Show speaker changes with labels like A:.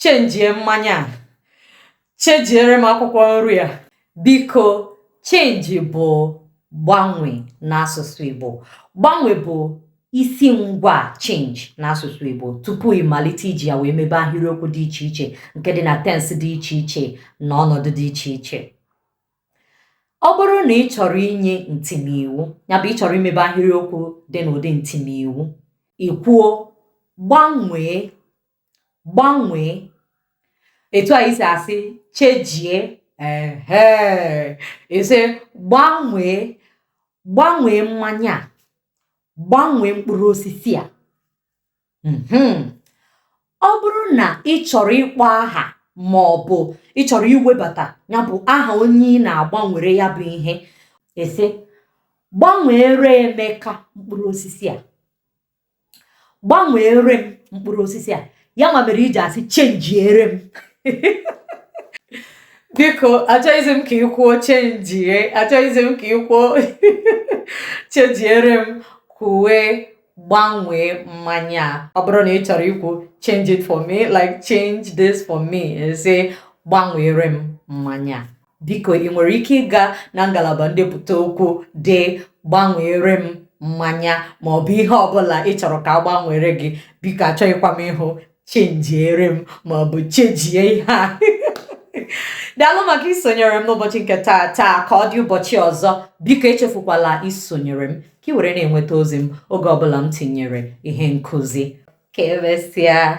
A: chenjie mmanya a chenjiere m akwụkwọ nri a biko change bụ gbanwe n'asụsụ Igbo gbanwe bụ isi ngwa change n'asụsụ Igbo tupu ị malite iji ya wee mebe ahịrịokwu dị iche iche nke dị na tense dị iche iche na ọnọdụ dị iche iche ọ bụrụ na ị chọrọ inye ntimiwu ya bụ ị chọrọ imebe ahịrịokwu dị n'ụdị ntimiwu ị kwuo gbanwee gbanwee etu a i si asị chenjie ehe ị sị gbanwee gbanwee mmanya a gbanwee mkpụrụ osisi a mhm. ọ bụrụ na ị chọrọ ịkpọ aha ma ọ bụ ị chọrọ iwebata ya bụ aha onye ị na-agbanwere ya bụ ihe ị sị gbanweere Emeka mkpụrụ osisi a gbanweere m mkpụrụ osisi a ya nwa mere i ji asị chenjiere m biko achọghịzi m ka ị kwuo chenjie achọghịzi m ka ị kwuo chenjiere m kwuwe gbanwee mmanya a ọ bụrụ na ị chọrọ ikwu change it for me like change this for me ị sị gbanweere m mmanya biko ị nwere ike ịga na ngalaba ndepụta okwu dee gbanweere m mmanya ma ọ bụ ihe ọbụla ị chọrọ ka a gbanweere gị biko achọghịkwa m ịhụ chenjiere m ma ọ bụ chenjie ihe a daalụ maka isonyere m n'ụbọchị nke taa taa ka ọ dị ụbọchị ọzọ biko echefukwala isonyere m ka ị were na-enweta ozi m oge ọbụla m tinyere ihe nkụzi ka emesịa